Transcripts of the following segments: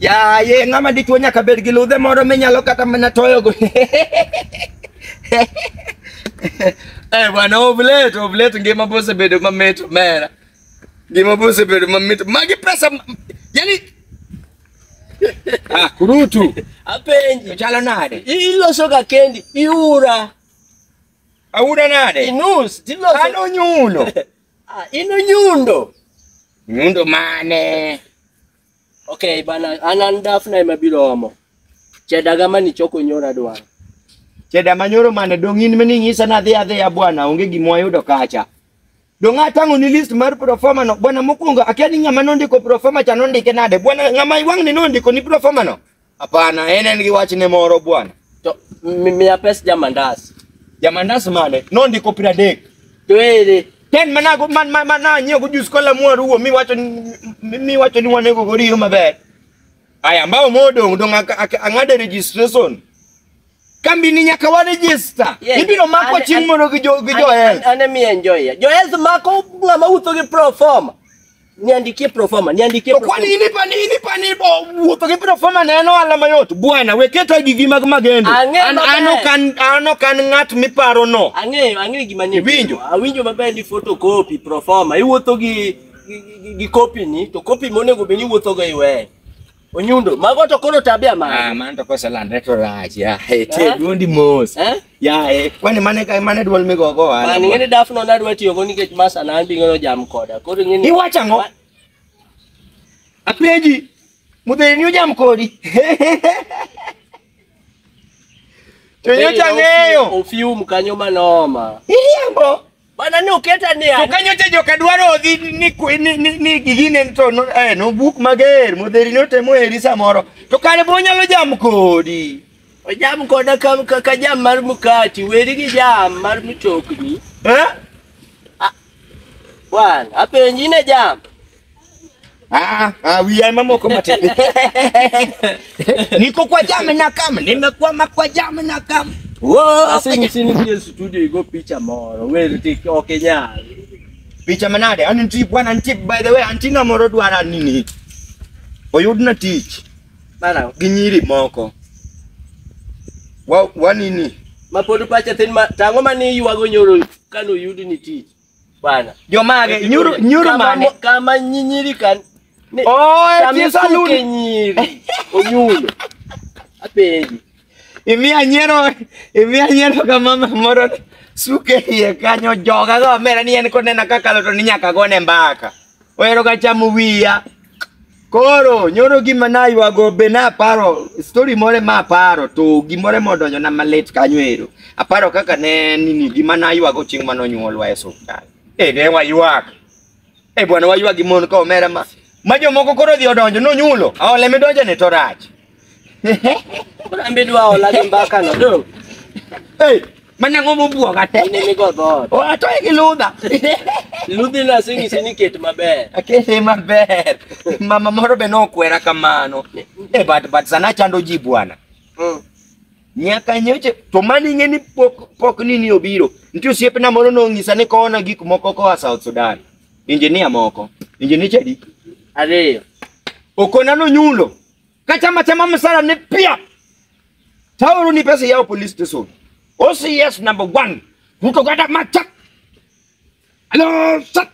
Yaye, ng'ama dichuo nyaka bed gi ludhe moro minyalo kata mana toyogo. Eh, bwana Ovlet, Ovlet ngima bosebedo mamit mera. Ngima bosebedo mamit. Magi pesa ma- yani Ah, kurutu. Apenji. Chalo nade? Iloso ga kendi, iura, Aura nade? inus, tiloso. Ano nyulo. Ah, ino nyundo. Nyundo mane? Okay, bana anan dafna ema biro omo. Chedaga mani choko nyora dwaro. Cheda manyoro mane dong in mani ng'isa na dhi adhiya bwana onge gima wayudo kacha. Dong atang'o ni list mar proforma no bwana mokwongo akia ni ng'ama nondiko proforma cha nondike nade bwana ng'ama iwang'ni nondiko ni proforma no Hapana, en en gi wachne moro bwana. To mi- miya pes jamandas. Jamandas mane? Nondiko piero adek. To ere Ten mana go man man man na nyego jus kola mwaru wo mi wacho ni- mi mi wacho ni wanego go riyo maber. Aya mbao modong dong ak- ak- ang'ade registration. Kambi ni nyaka wa register. Yeah, Ibiro makwa ane- chieng' ane- moro gi jo gi jo an- health. an- ane mi enjoy. Jo health mako ng'ama utho gi pro forma. Niandikie proforma, niandikie To kwani proforma. inipa ni inipa ni bo wuotho gi proforma ne en ohala mayot. Bwana, we keta gigi mag magendo. Ang'e An maber. ano kan ano kan ng'at miparo no. Ang'eyo, ang'eyo gima ni. Iwinjo? Awinjo maber ni photocopy proforma. Iwuotho gi gi, gi, gi copy ni to copy monego bed ni iwuotho go iwe. Onyundo, mago to koro tabia Ah, mane. man to kosa landre to rach ya. Eh, te Ah. duondi mos. Eh? Ya, eh, kwani mane ka mane duol migo go wala. Mani ng'eni dafno nadwa tiyo go nikech masa na an bing'eno jam koda. Koro ng'eni Iwacho ang'o? Ma- Apenji. Mudheni ni ujam kodi. To nyocha ng'eyo. Ofium kanyo manoma. Iriambo. Bana ne oketa ni To kanyo cha joka dwaro odhi ni kwe- ni ni, ni gigine to no, eh, no buk mager modheri no temo eri samoro. To kare bo nyalo jam kodi. ojam koda ka, ka, ka jam mar mkati weri gi jam mar mtokni. Eh? Wan, apenji ne jam. Ah, ah, wiya mamoko matin. Niko kwa jame na kama, nimekwama kwa jame na kama. Whoa, Ase ngisi nitie studio igo picha moro. Weri tik oke nyal. picha manade an nitie bwana nitie by the way antina moro dwara nini oyudna tich Mara. gi nyiri moko wa, wa nini Ma pod pacha tin ma tango mane yuago nyoro kano yudi ni tich. bwana Jomage nyuru nyuru Kama mane? mo- kama nyinyiri kan ne- Oh, kama eti saluni. isuke nyiri onyulo apenji Imiya nyiero imiya nyiero ka mama moro suke iye kanyo joga go mera ni en konena kakalo to ni nyaka gone mbaka. Ohero ga chamo wiya. Koro nyoro gima naywago be naparo story more ma aparo to gimore modonjo na malit kanyo ero. Aparo kaka ne nini gima naywago chieng' mane onyuolwa e osiptal. E ne waywak. E bwana waywak gi mon ka omera ma. Ma jomoko koro odhi odonjo nonyulo. Aole midonjone to rach. Koro an be dwa hola gi mbaka no. Do. Hey, mana ng'o mobwoga te. Ine mi go dhoot. O atoye gi ludha. Ludhi no aseng'isi ni ket maber. Akete maber. Mama moro be nokwera kamano. Eh, but but sana chando ji bwana. Mm. Nyaka nyoche to mani ng'e ni pok pok nini obiro. Nitie osiepna moro nong'isa ni kona gik moko koa South Sudan. Injinia moko. Injinia chadi. Ariyo. Okona nonyulo. kachama chama msara ne pia tauru ni pesa yao police station OCS number one Ruto kata macha alo sat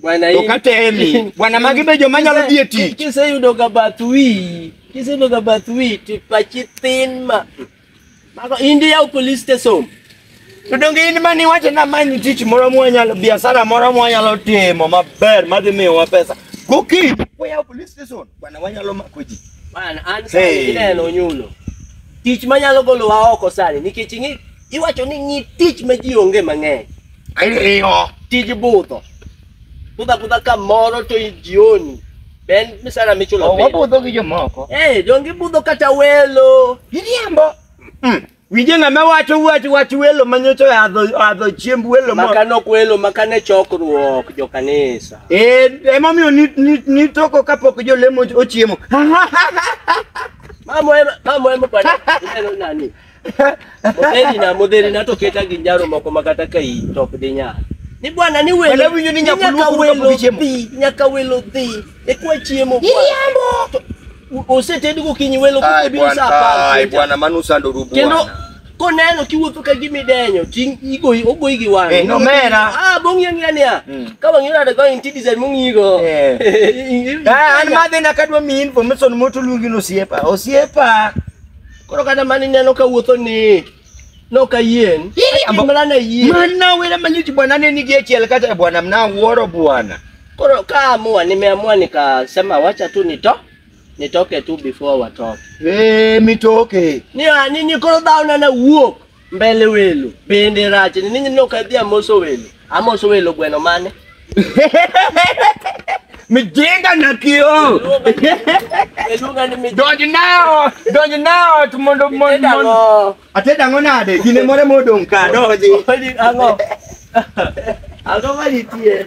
Bwana hii. Dokate Emi. Bwana Magibe jo manyalo Kise- dieti. Kise yudo ga bath wi. Kise yudo ga bath wi to pachi thin ma. Mago indi yaw police station. To donge in mani wacho na manyi tich moro mwanyalo biashara moro mwanyalo timo maber madhi miyowa pesa. Gokinyi wayaw police station bwana wanyalo mako ji. Bana an sani Hey. ineno onyulo. Tich manyalo golowa oko sani nikech ing'i iwacho ni ng'i tich ma ji onge mang'eny. Ayo. Tij budho. Kudha kudha kamoro to jioni. Ben misara michulo Oh, piny. wabudho gi jomoko. Eh, donge ibudho kata welo. Iriambo. Mm. Winje ng'ama wacho wach wach welo manyocha adho adho chiemb welo mo. Makano kwelo, makane chokruok jo kanisa. Eh, emomiyo ni ni ni toko kapok jolemo ochiemo. Mamo ema, mamo ema kwani. Ineno nani? Modheri na modheri na to keta gi njaro moko ma kata ka i top di nya. Ni bwana ni welo. Wala winjo ni nyaka nyaka luoko welo kapok ichiemo. dhi, nyaka welo dhi. E kwa chiemo. Iriambo. To, u- Osetedi gokinyi welo Ai koko biro bwana, saa apar. ai kucha. bwana, mano usando ru Kendo bwana. koneno kiwuotho ka gima idenyo, ting igoyi ogoyi gi wang'. Eh, nomera. Ah, bong'i ang'iya niya. Mm. Ka wang'i rada go inti design mong'igo. Eh. Eh, an madhi na kadwa mi information moto luongi no osiepa. Osiepa. koro kata mani neno ka wuotho ni nokayien Iriambo. mana ne yie Mana wera manyuti bwana ne nigi achiel kata bwana mna wuoro bwana. koro kaamua nimeamua nikasema wacha tu nito nitoke tu before watoke Eh mitoke. ni ah, nini koro dhao nana wuok Mbele welo bende rach ni ninyi nok adhi amoso welo amoso welo gweno mane Mijinga na kio. eluonga ni mi Donj nao, donj nao to mondo mondo. Edang'o. Ateda ang'o nade? Gine more modong' ka donji. Oli ang'o ang'o manitie